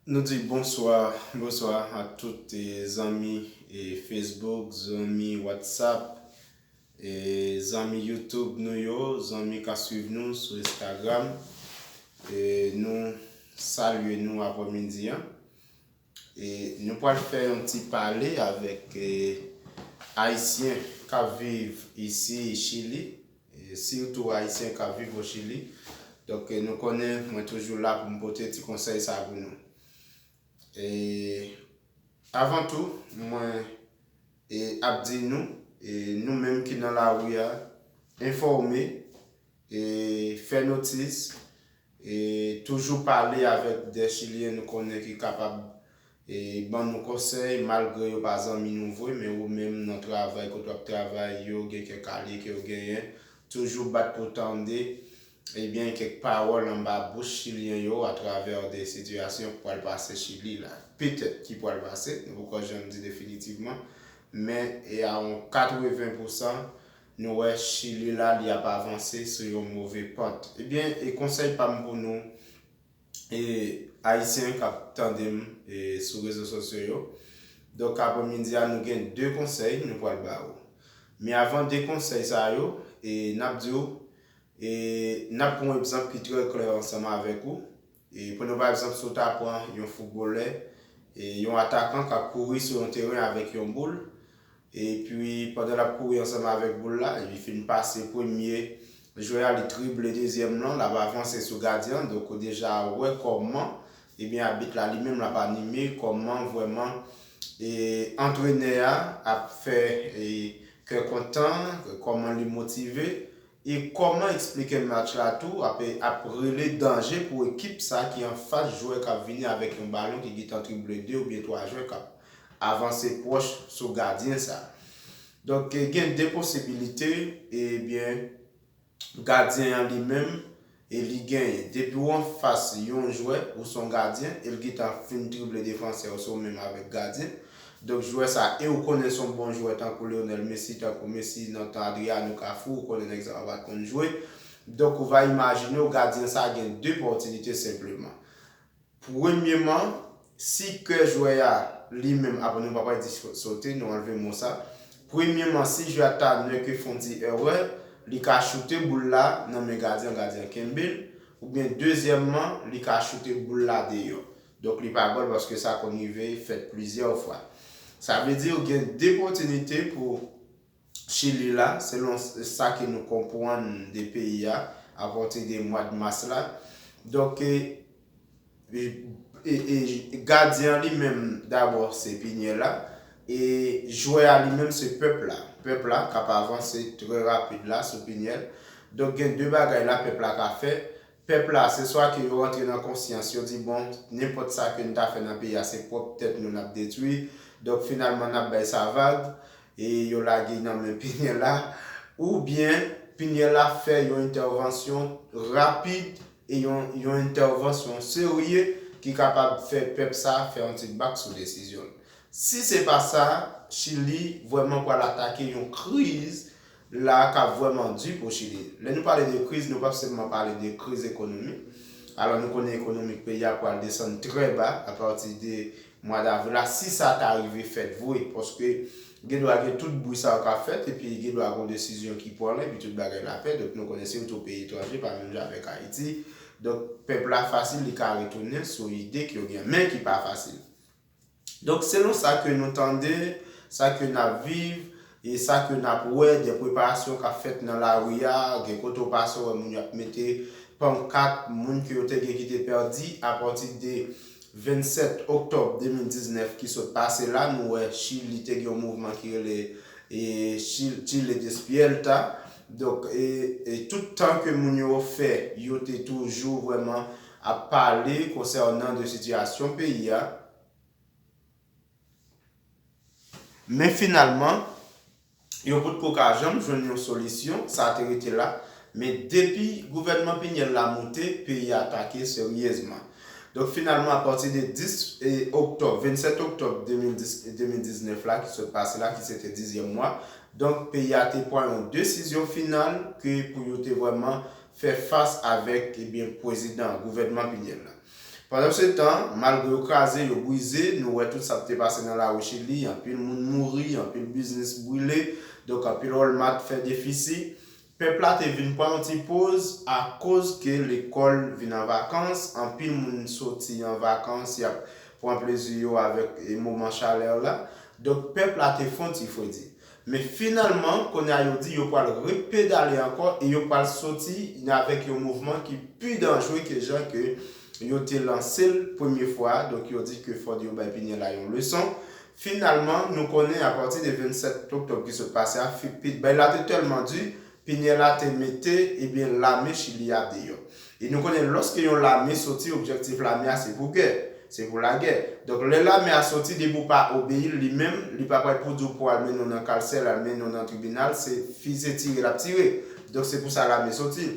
Nou di bonswa bonswa ak tout zanmi Facebook, zanmi Whatsapp, zanmi YouTube nou yo, zanmi ka swiv nou sou Instagram. Nou salye nou aprè midi an. E nou pral fè yon ti pale avèk Ayisyen k ap viv isi Chili, sitou Ayisyen k ap viv o Chili. Donk nou konnen mwen toujou la pou m pote ti konsèy sa pou nou. E avan tou, mwen ap di nou, nou menm ki nan lari a, enfòme, fè notis, E toujou pale avèk de chilyen nou konnen ki kapab ban nou konsèy malgre yo pa zanmi nou vre men ou menm nan travay kote wap travay yo gen kèk alye ke yo genyen toujou bat pou tande ebyen kèk pawòl anba bouch chilyen yo atravè de sitiyasyon ki pwal pase chili la petèt ki pwal pase nou poko janm di definitivman men e a on 80 pousan Nou wè chili la li ap avanse sou yon move pant ebyen e konsèy pam pou nou e ayisyen kap tandem e sou rezo sosyo yo donk apremidi a nou gen 2 konsèy nou pwal ba ou men avan 2 konsèy sa yo e nap di ou e nap pran yon egzanp ki trè klè ansanm avèk ou. Pou nou pa egzanp si w ta pran yon foutbolè, yon atakan k ap kouri sou yon teren avèk yon boul, epi pandan l ap kouri ansanm avèk boul la, li fin pase premye jwè a, li drible dezyèm lan, l ap avanse sou gadyen an, donk ou deja wè kòman ebyen abit la li menm l ap anime, kòman vrèman antrenè a ap fè kè kontan, kòman li motive. E kòman eksplike match la tou ap ap rele danje pou ekip sa ki anfas jwè k ap vini avèk yon balon ki gentan trible 2 oubyen 3 jwè k ap avanse pwòch sou gadyen sa. Donk gen 2 posibilite ebyen gadyen an li menm E li genyen. Depi w anfas yon jwè, ou s on gadyen, e l gentan ap fin drible defansè yo, se w menm avèk gadyen. Donk jwè sa, e ou konnen s on bon jwè tankou Lionel Messi, tankou Messi nan tan Adriano, Cafu, ou konnen nèg sa pa pat konn jwe. Donk ou va imajine w gadyen sa gen 2 pòtinite senpleman. Premyeman, si kè jwè a li menm apre nou pa pral di sote, nou anlve mo sa. Premyeman, si jwè a ta nwè ke fon ti èrè, li ka choute boul la nan men gadyen an, gadyen an kenbe l. Oubyen dezyèmman, li ka choute boul la deyò. Donk li pa gòl paske sa konn rive fèt plizyè fwa. Sa vle di ou gen 2 pòtinite pou. Chili la, selon sa ke nou konpwann de peyi a, apati de mwad mas la, donk gadyen an li menm dabò se Piniella, e jwè a li menm se pèp la, pèp la kap avanse trè rapid la sou Piniel, donk gen de bagay la pèp la ka fè Pèp la, se swa ke yo antre nan konsyans, yo di bon, nenpòt sa ke n ta fè nan peyi a se pwòp tèt nou n ap detwi, donk finalman n ap bay sa vag, e yo lage y nan men Pinyela, oubyen Pinyela fè yon entèvansyon rapid e yon yon entèvansyon serye ki kapab fè pèp sa fè yon ti bak sou desizyon l. Si se pa sa, Chili vrèman pral atake yon kriz la a kap vrèman di pou Chili. Lè nou pale de kriz, nou pap sèlman pale de kriz ekonomik. Alò nou konnen ekonomik peyi a pwal desann trè ba a pati de mwa davril la si sa ta rive fèt vre. Paske gen dwa gen tout bri sa yo kap fèt epi gen dwa gon desizyon ki pwan epi tout bagay la pè. Donk nou konnen se yon tou peyi etranje pa menm jan avèk Ayiti. Donk pèp la fasil li ka retounen sou ide k yo gen men ki pa fasil. Donk selon sa ke nou tande, sa ke nap viv, e sa ke nap wè de preparasyon kap fèt nan lari a, gen kote ou pase ou wè moun yo ap mete pankat moun ke yo te gen ki te pèdi apati de 27 oktòb 2019 ki sot pase la, nou wè Chili te gen yon mouvman ki rele Chile despierta, donk tout tan ke moun yo fè yo te toujou vrèman ap pale konsènan de sitiyasyon peyi a, men finalman yo potko ka janm jwenn yon solisyon, sa te rete la, men depi gouvènman Pinyèl la moute, peyi a atake seryezman. Donk finalman apati de 10 oktòb, 27 oktòb 2019 la ki sot pase la ki se te dizyèm mwa, donk peyi a te pran yon desizyon final ke pou yo te vrèman fè fas avèk ebyen pwezidan, gouvènman Pinyèl la. Pandansetan, malgre yo kraze, yo brize, nou wè tout sa k te pase nan lari Chili, anpil moun mouri, anpil biznis brile, donk anpil Walmart fè defisi. Pèp la te vin pran yon ti poz akoz ke lekòl vin an vakans, anpil moun soti an vakans y ap pran plezi yo avèk moman chalè la. Donk pèp la te fon ti fredi. Men finalman, kounye a yo di yo pwal repedale ankò e yo pwal soti avèk yon mouvman ki pi danjre ke jan ke yo te lanse l premye fwa a, donk yo di ke fòd yo bay Piniella yon leson. Finalman, nou konnen apati de 27 oktòb ki sot pase a, Fifpid bay la te tèlman di, Piniella te mete ebyen lame chili a deyò. E nou konnen lòske yon lame soti objektif lame a se pou gè, se pou lagè. Donk lè lame a soti depi w pa obeyi l li menm li pa pral pou di w pou al mennen w nan kalsè l al mennen w nan tribinal se fize tire l ap tire. Donk se pou sa lame soti.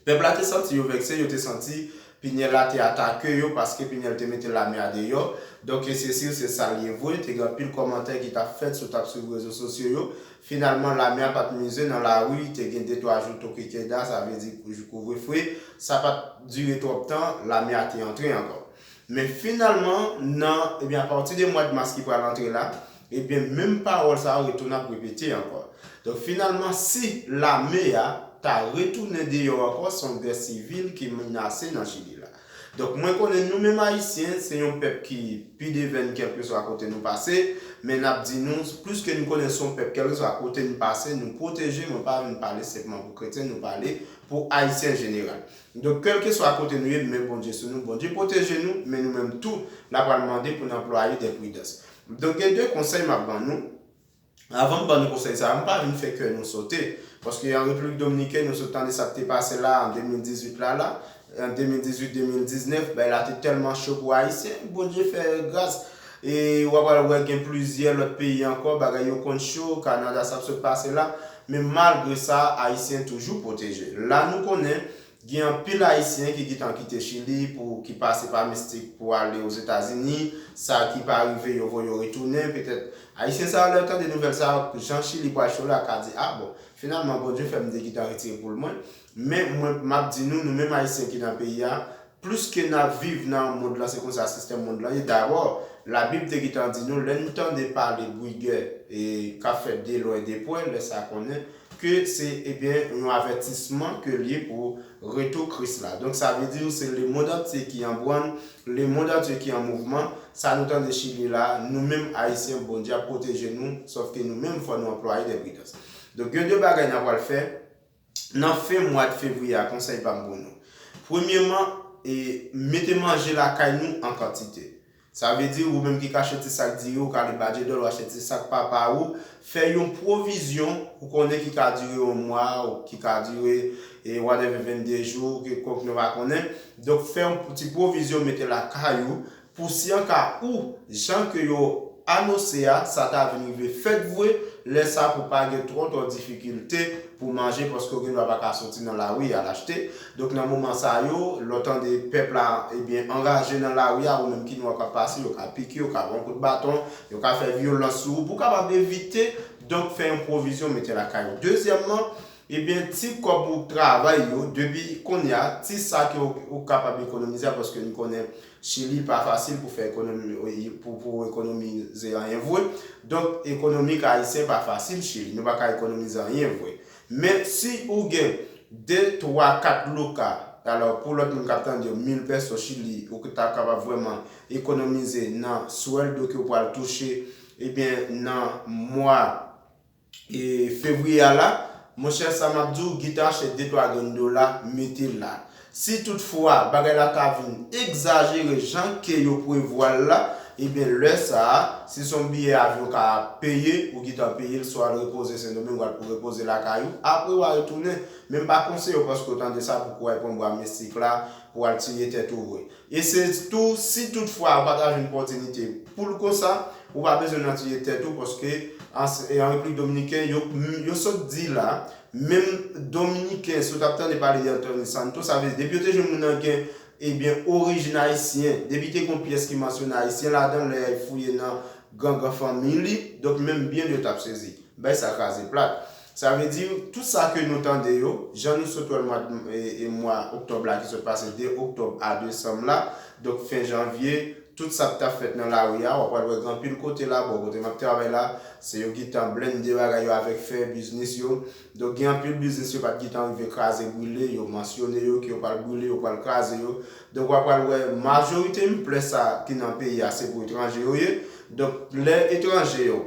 Pèp la te santi yo vekse, yo te santi Pinyèl la te atake yo paske Pinyèl te mete lame a deyò. Donk e se siw se sa l ye vwe, te gen anpil kòmantè ki t ap fèt si w t ap swiv rezo sosyo yo. Finalman lame a pa t mize nan lari, te gen de twa jou toke keda, sa vle di kouvre fwe. Sa pa t dire twòp tan, lame a te antre ankò. Men finalman nan ebyen apati de mwad mas ki pral antre la, ebyen menm pawòl sa yo retounen ap repete ankò. Donk finalman si lame a ta retounen deyò ankò se yon gè sivil ki menase nan Chili la. Donk mwen konnen nou menm ayisyen se yon pèp ki pi devenn kèlkeswa kote nou pase, men nap di nou plis ke nou konnen son pèp kèlkeswa kote nou pase nou pwoteje mwen pa vin pale senpman pou kretyen nou pale pou ayisyen an jeneral. Donk kelkeswa kote nou ye men Bondye sou nou, Bondye pwoteje nou men nou menm tou la pral mande pou n anplwaye de pridans. Donk gen de konsèy map ban nou, avan m ban nou konsèy sa yo m pa vin fè kè nou sote paske an Repiblik Dominiken nou sot tande sa k te pase la an 2018 la la, an 2018, 2019 bagay la te tèlman cho pou ayisyen, Bondye fè gras E wa pral wè gen plizyè lòt peyi ankò bagay yo konn cho, Kanada sa ap sot pase la. Men malgre sa Ayisyen toujou pwoteje. La nou konnen gen anpil Ayisyen ki gitan kite Chili pou ki pase pa Mistik pou ale Ozetazini, sa ki pa rive yo voye yo retounen. Petèt Ayisyen sa yo lè yo tande nouvèl sa yo, jan Chili pral cho la ka di a bon, finalman Bondye fè m te gitan retire poul mwen. Men mwen map di nou, nou menm ayisyen ki nan peyi a, plis ke nap viv nan mond lan se konsa sistèm mond lan ye, dabò la bib te gitan di nou lè nou tande pale bwi gè kap fèt de lwen de pwè lè sa konnen ke se ebyen yon avètisman ke liye pou retou kris la donk sa vle di nou se le mond antye ki an bwann le mond antye ki an mouvman sa nou tande chili la nou menm ayisyen bondye ap pwoteje nou sòf ke nou menm fò nou anplwaye de pridans donk gen de bagay nan pwal fè Nan fen mwad fevriye a konsèy pam pou nou. Premyeman e mete manje lakay nou an kantite. Sa vle di ou menm ki ka achte ti sak diri ou ka ale Badje Dòl ou achte ti sak papa ou, fè yon pwovizyon ou konnen ki ka dire yon mwa ou ki ka dire e whatever 22 jou, kilkonk nou pa konnen. Donk fè yon ti pwovizyon mete lakay ou Pou si an ka ou, jan ke yo anose a, sa ta vin rive fèt vwe, lè sa pou pa gen twò twò difikilte pou manje paske ou gen dwa pa ka soti nan lari al achte. Donk nan moman sa yo, lè w tande pèp la ebyen anraje nan lari a, ou menm ki nwa k ap pase, yo ka pike, yo ka ba w kout baton, yo ka fè vyolans sou ou pou kapab evite, donk fè yon pwovizyon mete lakay ou. Dezyèmman, ebyen ti kòb ou travay yo, depi kounye a, ti sa ke ou kapab ekonomize a paske n konnen Chili pa fasil pou fè pou ekonomize anyen vwe, donk ekonomik ayisyen pa fasil chili, nou pa ka ekonomize anyen vwe. Men si ou gen 2, 3, 4 luca, alò pou lòt moun kap tande yo 1000 pèso chili ou ta kapab vrèman ekonomize nan swèldo ke ou pral touche ebyen nan mwa fevrier a la monchè sa map di w gita chè de twa grenn dola mete la si tout fwa bagay la ta vin egzajere jan ke yo prevwa l la ebyen lè sa si son biyè avyon ka peye ou gitan peye l swa al repoze sendomeng wal pou repoze lakay ou apre wa retounen men m pa konseye w paske w tande sa pou kou w al pran bwa mistik la pou w al tiye tèt ou vre E se tou si tout fwa ou pa ta jwenn pòtinite poul konsa, ou pa bezwen nan tiye tèt ou paske an Repiblik Dominiken yo sot di la menm Dominiken si ou tap tande pale de Anthony Santo sa vle di depi yo te jwenn moun nan gen ebyen orijin ayisyen depi te gon pyès ki mansyone ayisyen ladan lè y fouye nan gangan fanmiy li donk menm byen li yo tap sezi. Bay sa kraze plat. Sa vle di, tout sa ke nou tande yo, jan nou sot wè l mwa mwa oktòb la ki sot pase 2 oktòb a desanm la, donk fen janvye, tout sa k t ap fèt nan lari a, w ap pral wè gen anpil kote la, bò kote m ap travay la, se yo gen tan blennde bagay yo avèk fè biznis yo. Donk gen anpil biznis yo pa t gen tan rive kraze brile, yo mansyone yo ke yo pral brile, yo pral kraze yo. Donk w ap pral wè majorite mplè sa ki nan peyi a se pou etranje yo ye. Donk lè etranje yo.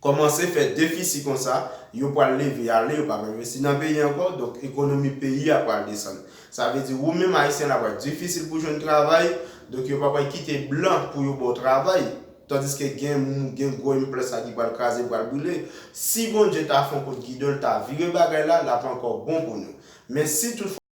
Kòmanse fè defisi konsa, yo pwal leve ale, yo pap envesti nan peyi ankò, donk ekonomi peyi a pwal desann. Sa vle di ou menm ayisyen la pwal difisil pou jwenn travay, donk yo pa pwal kite blan pou yo baw travay, tandiske gen gen gwo implant sa ki pwal kraze pwal brile. Si Bondye ta fon kout gidon l ta vire bagay la, lap ankò bon pou nou. Men si tout fwa.